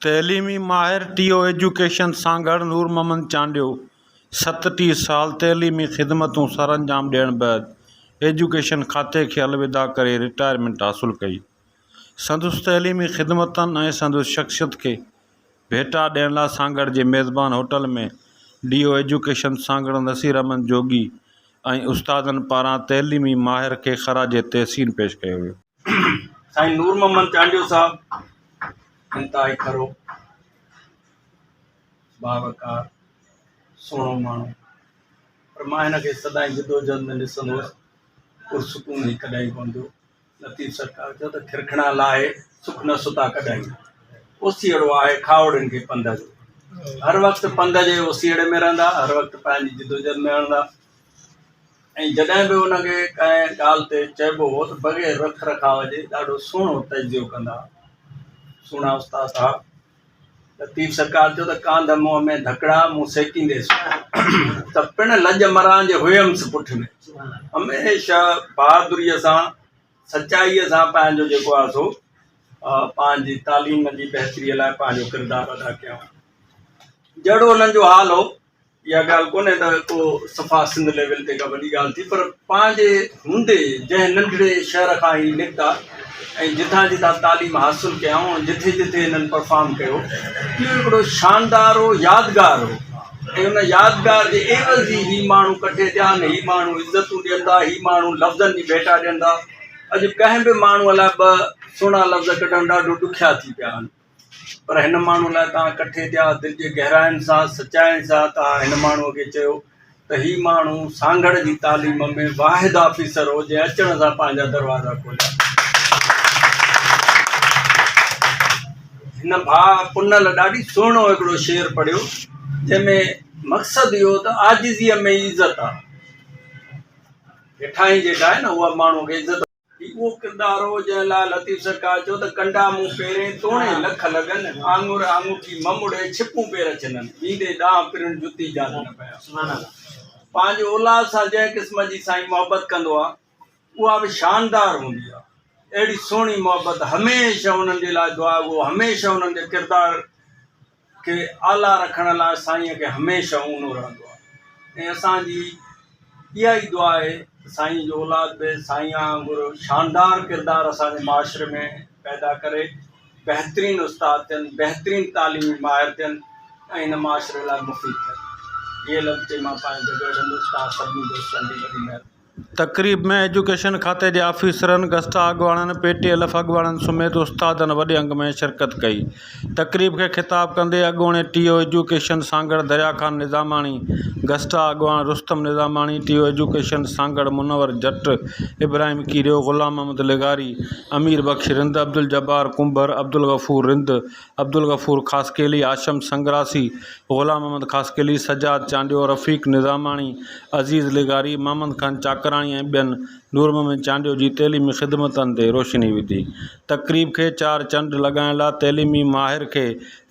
تعليمي ماهر TEO education Sanghar Noor Muhammad Chandio ستٽيهه سال تعليمي خدمتون سرانجام ڏيڻ بعد ايجوڪيشن کاتي کي الوداع ڪري رٽائرمينٽ حاصل ڪئي سندس تعليمي خدمتن ۽ سندس شخصيت کي ڀيٽا ڏيڻ لاء سانگهڙ جي ميزبان hotel ۾ D O education Sanghar Naseer Ahmed Jogi ۽ استادن پاران تعليمي ماهر کي خراج تحسين پيش ڪيو ويو سائين نور محمد چانڊيو صاحب انتهائي کرو باوقار سهڻو ماڻهو پر مان هن کي سدائين جدوجهد ۾ ڏسندو هوس پرسڪون هي ڪڏهن ڪون ٿيو لطيف سرڪار چيو ته کرکڻا لاهي سک نه ستا ڪڏهن اوسيئڙو آهي کاوڙن کي پنڌ جو هر وقت پنڌ جي اوسيئڙي ۾ رهندا هر وقت پنهنجي جدوجهد ۾ رهندا ۽ جڏهن به انهن کي ڪنهن ڳالهه تي چئبو هو ته بغير رک رکاء جي ڏاڍو سهڻو تجزيو ڪندا هئا. سهڻا استاد صاحب! لطيف سرڪار چيو ته ڪانڌ منهن ۾ ڌڪڙا مون سيڪينديس ته پڻ لڄ مران جي هئمس پٺ ۾ هميشه بهادريء سان سچائيء سان پنهنجو جيڪو آهي سو پنهنجي تعليم جي بهتريء لاء پنهنجو ڪردار ادا ڪيائون. جهڙو انهن جو حال هو اها ڳالهه ڪونهي ته ڪو صفا سنڌ ليول تي ڪا وڏي ڳالهه ٿي پر پنهنجي هوندي جنهن ننڍڙي شهر کان هي نڪتا ۽ جتان جتان تعليم حاصل ڪيائون جتي جتي هنن پرفارم ڪيو اهو هڪڙو شاندار هو يادگار هو ۽ ان يادگار جي عيوض هي هي ماڻهو ڪٺي ٿيا آهن هي ماڻهو عزتون ڏين ٿا هي ماڻهو لفظن جي ڀيٽا ڏين ٿا اڄ ڪنهن به ماڻهو لاء ٻه سهڻا لفظ ڪڍڻ ڏاڍو ڏکيا ٿي پيا آهن پر هن ماڻهوء لاء توهان ڪٺي ٿيا، دل جي گهراين سان، سچائين سان توهان هن ماڻهوء کي چيو ته هي ماڻهو سانگهڙ جي تعليم ۾ واحد آفيسر هو جنهن اچڻ سان پنهنجا دروازا کوليا. هن ڀاء پنل ڏاڍي سهڻو هڪڙو شعر پڙهيو جنهن ۾ مقصد اهو هو ته عاجزيء ۾ ئي عزت آ. هيٺاهين جيڪا آهي نه اها ماڻهوء کي عزت. هي اهو ڪردار هو، جنهن لاء لطيف سرڪار چيو ته ڪنڊا مون پيرين، توڻي لک لڳن، آڱر آڱوٺي مم اڙي، ڇپون پير ڇنن، ويندي ڏانهن پرڻ جتي جان نه پيان. پنهنجي اولاد سان جنهن قسم جي سائين محبت ڪندو آهي، اها به شاندار هوندي آهي. اهڙي سهڻي محبت هميشه انهن جي لاء دعاگو، هميشه انهن جي ڪردار کي اعليٰ رکڻ لاء سائين کي هميشه اونو رهندو آهي ۽ اسان جي اها ئي دعا آهي ته سائين جو اولاد به سائين وانگر شاندار ڪردار اسان جي معاشري ۾ پيدا ڪري بهترين استاد ٿين بهترين تعليمي ماهر ٿين ۽ هن معاشري لاء مفيد ٿين اهي لفظ چئي مان پنهنجي جڳهه وٺندس توهان سڀني دوستن جي وڏي مهرباني تقريب ۾ ايجوڪيشن کاتي جي آفيسرن، گسٽا اڳواڻن، پي ٽي ايل ايف اڳواڻن سميت استادن وڏي انگ ۾ شرڪت ڪئي. تقريب کي خطاب ڪندي اڳوڻي T O education Sanghar Darya Khan Nizamani, گسٽا اڳواڻ Rustam Nizamani, T O education Sanghar Munawar Jat, Ibrahim Kerio, Ghulam Muhammad لغاري، امير بخش رند، عبدالجبار ڪنڀر، عبدالغفور رند، عبدالغفور خاصخيلي، هاشم سنگراسي، غلام محمد خاصخيلي، سجاد چانڊيو، رفيق نظاماڻي، عزيز لغاري، محمد خان چاڪراڻي ۽ ٻين نور محمد چانڊيو جي تعليمي خدمتن تي روشني وڌي. تقريب کي چار چنڊ لڳائڻ لاء تعليمي ماهر کي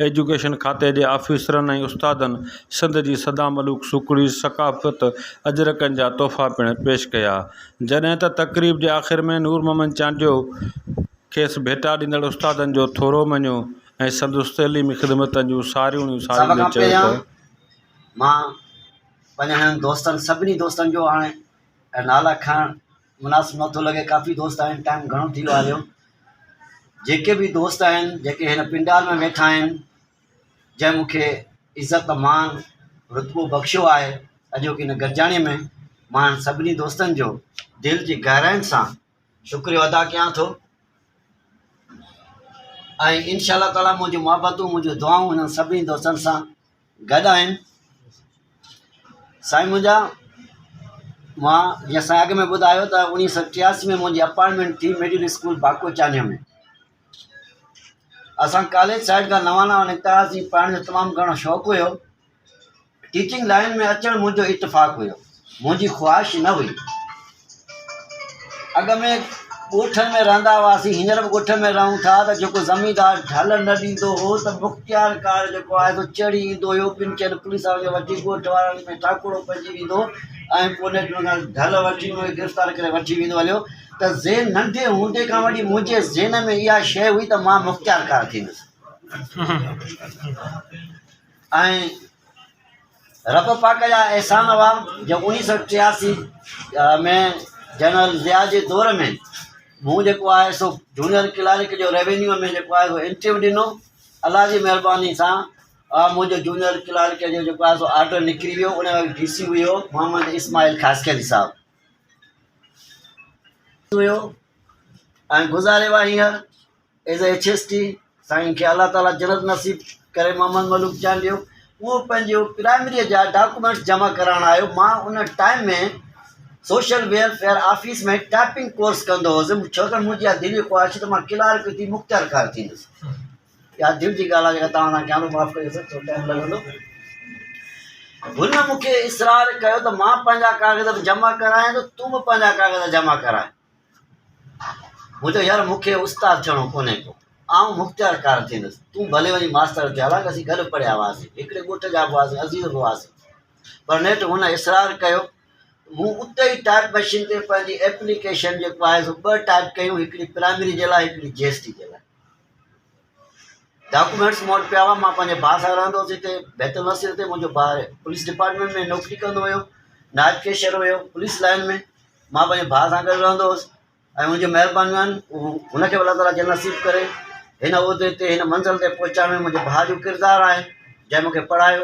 ايجوڪيشن کاتي جي آفيسرن ۽ استادن سنڌ جي سدا ملوڪ سوکڙي ثقافت اجرڪن جا تحفا پڻ پيش ڪيا جڏهن ته تقريب جي آخر ۾ نور محمد چانڊيو کيس ڀيٽا ڏيندڙ استادن جو ٿورو مڃيو ۽ سندس تعليمي خدمتن جون ساريوڻيون ساريندي چيو ته. مان پنهنجن دوستن سڀني دوستن جو هاڻي نالا کڻڻ مناسب نه ٿو لڳي ڪافي دوست آهن ٽائيم گهڻو ٿي ويو آهي جو جيڪي به دوست آهن جيڪي هن پنڊال ۾ ويٺا آهن جنهن مون کي عزت مان رتبو بخشيو آهي اڄوڪي هن گڏجاڻي ۾ مان سڀني دوستن جو دل جي گهراين سان شڪريو ادا ڪيان ٿو ۽ انشاء الله تعاليٰ منهنجون محبتون منهنجون دعائون هنن سڀني دوستن سان گڏ آهن سائين منهنجا مان جيئن سائين اڳ ۾ ٻڌايو ته انيس سو ٽياسي ۾ منهنجي اپائنٽمنٽ ٿي مڊل اسڪول باڪو چانيو ۾ اسان ڪاليج سائيڊ کان نوانا نڪتاس جي پڙهڻ جو تمام گھڻو شوق هيو ٽيچنگ لائين ۾ اچڻ منهنجو اتفاق هيو. منهنجي خواهش نه هئي. اڳ ۾ ڳوٺن ۾ رهندا هئاسين، هينئر به ڳوٺ ۾ رهون ٿا ته جيڪو زميندار ڍل نه ڏيندو هو ته مختيار ڪار جيڪو آهي سو چڙهي ايندو هيو، ٻن چئن پوليس وارن کي وٺي ڳوٺ وارن ۾ ٽاڪڙو پئجي ويندو هو ۽ پوء نيٺ ان کان ڍل وٺي ان کي گرفتار ڪري وٺي ويندو هليو ته ذهن ننڍي هوندي کان وٺي منهنجي ذهن ۾ اها شيء هئي ته مان مختيار ڪار ٿيندس. ۽ رب پاڪ جا احسان هئا جو انيس سئو ٽياسي ۾ جنرل ضياء جي دور ۾ مون جيڪو آهي سو جونيئر ڪلارڪ جو ريونيو ۾ جيڪو آهي سو انٽرويو ڏنو الله جي مهرباني سان منهنجو جونيئر ڪلارڪ جو جيڪو آهي سو آرڊر نڪري ويو ان وقت ڊي سي هيو محمد اسماعيل خاصخيلي صاحب هيو ۽ گذاري وئا هينئر ايز اي ايڇ ايس ٽي سائين کي الله تعالي جنت نصيب ڪري محمد ملوڪ چانڊيو اهو پنهنجو پرائمري جا ڊاڪومينٽس جمع ڪرائڻ آيو مان ان time ۾ social welfare office ۾ typing course ڪندو هوس ڇو ته منهنجي اها دلي خواهش هئي ته مان ڪلارڪ ٿي مختيار ڪار ٿيندس اها دل جي ڳالهه آهي توهان سان ڪيانو معاف ڪريو سر ٿورو ٽائيم لڳندو هن مون کي اصرار ڪيو ته مان پنهنجا ڪاغذ به جمع ڪرايان ته تون به پنهنجا ڪاغذ جمع ڪرائي مون چيو، يار مون کي استاد ٿيڻو ڪونهي ڪو، آئون مختيار ڪار ٿيندس، تون ڀلي وڃ ماستر ٿي، حالانڪ اسين گڏ پڙهيا هئاسين، هڪڙي ڳوٺ جا به هئاسين، عزيز به هئاسين، پر نيٺ هن اصرار ڪيو، مون اتي ئي ٽائيپ مشين تي پنهنجي ايپليڪيشن جيڪو آهي سو ٻه ٽائيپ ڪيون، هڪڙي پرائمري جي لاء، هڪڙي جي ايس ٽي جي لاء. ڊاڪومينٽس مون وٽ پيا هئا مان پنهنجي ڀاء سان رهندو هوس هتي بيت النصير تي منهنجو ڀاء پوليس ڊپارٽمينٽ ۾ نوڪري ڪندو هيو نائب ڪيشر هيو پوليس لائن ۾ مان پنهنجي ڀاء سان گڏ رهندو هوس ۽ منهنجي مهربانيون آهن هن کي به الله تعالیٰ جنت نصيب ڪري هن عهدي تي هن منزل تي پهچائڻ ۾ منهنجي ڀاء جو ڪردار آهي جنهن مونکي پڙهايو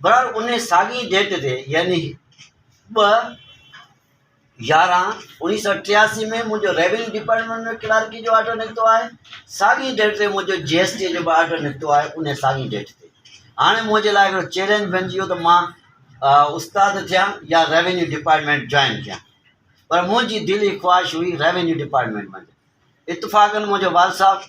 برحال ان ساڳئي ڊيٽ تي يعني ٻه يارهن انيس سو ٽياسي ۾ منهنجو ريونيو ڊپارٽمينٽ ۾ ڪلارڪي جو آرڊر نڪتو آهي ساڳئي ڊيٽ تي منهنجو جي ايس ٽي جو به آرڊر نڪتو آهي ان ساڳئي ڊيٽ تي هاڻي منهنجي لاء هڪڙو چيلنج بنجي ويو ته مان استاد ٿيان يا ريونيو ڊپارٽمينٽ جوائن ٿيان پر منهنجي دلي خواهش هئي ريونيو ڊپارٽمينٽ ۾ اتفاقن منهنجو وال صاحب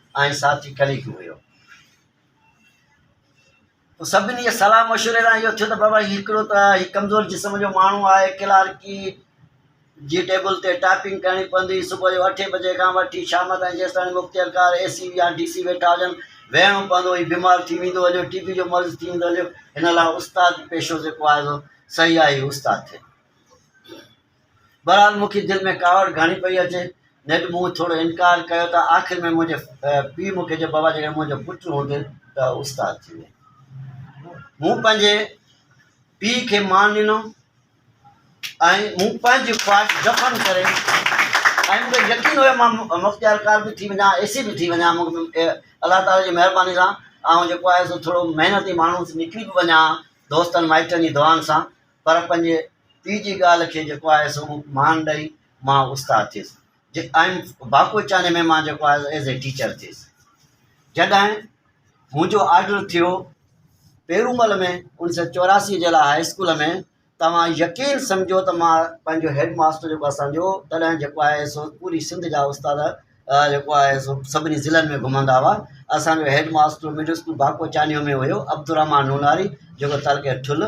۽ ساٿي ڪليڪ هيو. پوء سڀني جي صلاح مشوري سان اهو ٿيو ته بابا هي هڪڙو ته هي ڪمزور جسم جو ماڻهو آهي، ڪلارڪي جي ٽيبل تي ٽائپنگ ڪرڻي پوندي، صبح جو اٺين بجي کان وٺي شام تائين جيستاڻي مختيارڪار اي سي يا ڊي سي ويٺا هجن، ويهڻو پوندو، هي بيمار ٿي ويندو هليو، ٽي بي جو مرض ٿي ويندو هليو، هن لاء استاد پيشو جيڪو آهي سو صحيح آهي، هي استاد ٿئي. بهرحال مون کي دل ۾ ڪاوڙ گهڻي پئي اچي. نيٺ مون ٿورو انڪار ڪيو ته آخر ۾ منهنجي پيء مون کي چيو بابا جيڪڏهن منهنجو پٽ هوندين ته استاد ٿي ويندين. مون پنهنجي پيء کي مان ڏنو ۽ مون پنهنجي خواهش دفن ڪري ۽ مون کي يقين هو مان مختيار ڪار به ٿي وڃان اي سي به ٿي وڃان مون کي الله تعالي جي مهرباني سان آئون جيڪو آهي سو ٿورو محنتي ماڻهو نڪري به وڃان ها دوستن مائٽن جي دعائن سان پر پنهنجي پيء جي ڳالهه کي جيڪو آهي سو مان ڏئي مان استاد ٿيس جي آئم باڪوچاني ۾ مان جيڪو آهي ايز اي ٽيچر ٿيس جڏهن منهنجو آرڊر ٿيو پيرومل ۾ انيس سو چوراسي جي لاء هاء اسڪول ۾ توهان يقين سمجهو ته مان پنهنجو هيڊ ماستر جيڪو اسانجو تڏهن جيڪو آهي سو پوري سنڌ جا استاد جيڪو آهي سو سڀني ضلعن ۾ گهمندا هئا اسانجو head master middle school Bakochanio ۾ هيو عبدالرحمان نوناري جيڪو تعلقي ٺل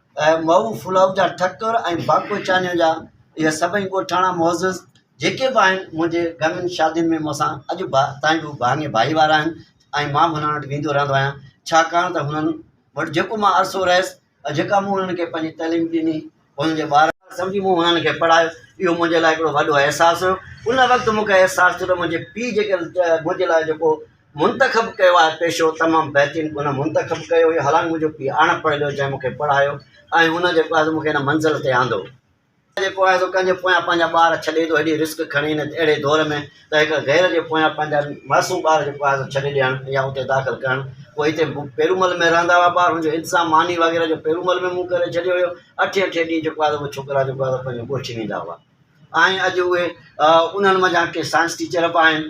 ۽ مئو ڦلائو جا ٺڪر ۽ باڪو چانيو جا اهي سڀئي ڳوٺاڻا معزز جيڪي به آهن منهنجي گهڻين شادين ۾ مون سان اڄ به تائين به ڀاڱي ڀائيوار آهن ۽ مان به هنن وٽ ويندو رهندو آهيان ڇاڪاڻ ته هنن وٽ جيڪو مان عرصو رهيس ۽ جيڪا مون هنن کي پنهنجي تعليم ڏني هنن جي ٻار سمجهي مون هنن کي پڙهايو اهو منهنجي لاء هڪڙو وڏو احساس هيو ان وقت مون کي احساس ٿيو ته منهنجي پيء جيڪي منهنجي لاء جيڪو منتخب ڪيو آهي پيشو تمام بهترين ان منتخب ڪيو هيو حالانڪ منهنجو پيء اڻ پڙهيل هيو جنهن مون کي پڙهايو ۽ هن جيڪو آهي سو مون کي هن منزل تي آندو. هن جيڪو آهي سو ڪنهن جي پويان پنهنجا ٻار ڇڏي ٿو هيڏي رسڪ کڻي هن اهڙي دور ۾ ته هڪ غير جي پويان پنهنجا معصوم ٻار جيڪو آهي سو ڇڏي ڏيڻ يا اتي داخل ڪرڻ پوء هتي پيرومل ۾ رهندا هئا ٻار هن جو انتظام ماني وغيره جو پيرومل ۾ مون ڪري ڇڏيو هيو اٺين اٺين ڏينهن جيڪو آهي سو اهي ڇوڪرا جيڪو آهي سو پنهنجو ڳوٺ ويندا هئا ۽ اڄ اهي انهن منجهان ڪي سائنس ٽيچر به آهن.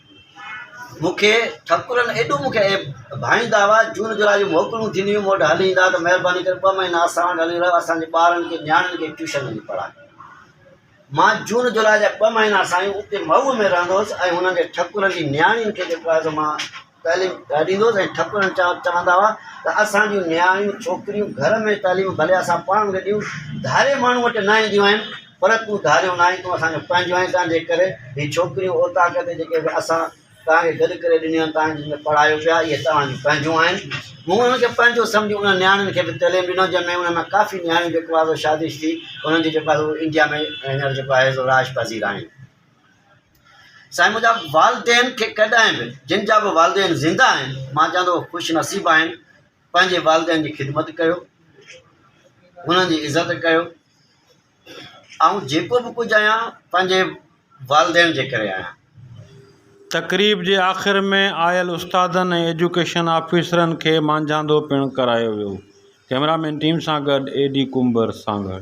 مون کي ٺڪرن ايڏو مون کي ڀائيندا هئا، جون جولاء جون موڪلون ٿينديون هيون، مون وٽ هلي ايندا ها ته مهرباني ڪري ٻه مهينا اسان وٽ هلي رهو، اسان جي ٻارن کي نياڻين کي ٽيوشن وڃي پڙهاء. مان جون جولاء جا ٻه مهينا سائين اتي مئو ۾ رهندو هوس ۽ هنن جي ٺڪرن جي نياڻين کي جيڪو آهي سو مان تعليم ڏيندو هوس ۽ ٺڪرن چوندا هئا ته اسان جون نياڻيون ڇوڪريون گهر ۾ تعليم ڀلي اسان پاڻ کي ڏيون ڌاري ماڻهو وٽ نه اينديون آهن، پر تون ڌاريو ناهين، تون اسان جون پنهنجون آهين، تنهن جي ڪري هي ڇوڪريون اوطاق تي جيڪي به اسان توهان کي گڏ ڪري ڏنيون آهن، توهان جن کي پڙهايو پيو آهي، اهي توهان جون پنهنجون آهن. مون انهن کي پنهنجو سمجهي انهن نياڻين کي به تعليم ڏنو، جنهن ۾ انهن مان ڪافي نياڻيون جيڪو آهي سو شادي ٿي انهن جي جيڪو آهي سو انڊيا ۾ هينئر جيڪو آهي سو رهائش پذير آهن. سائين منهنجا والدين کي ڪڏهن به جن جا به والدين زنده آهن، مان چوان ٿو اهي خوش نصيب آهن، پنهنجي والدين جي خدمت ڪيو، انهن جي عزت ڪيو. آئون جيڪو به ڪجهه آهيان پنهنجي والدين جي ڪري آهيان. تقريب جي آخر ۾ آيل استادن ۽ ايجوڪيشن آفيسرن کي مانجهاندو پڻ ڪرايو ويو. ڪئميرا مين ٽيم سان گڏ اي ڊي ڪنڀر سانگهڙ.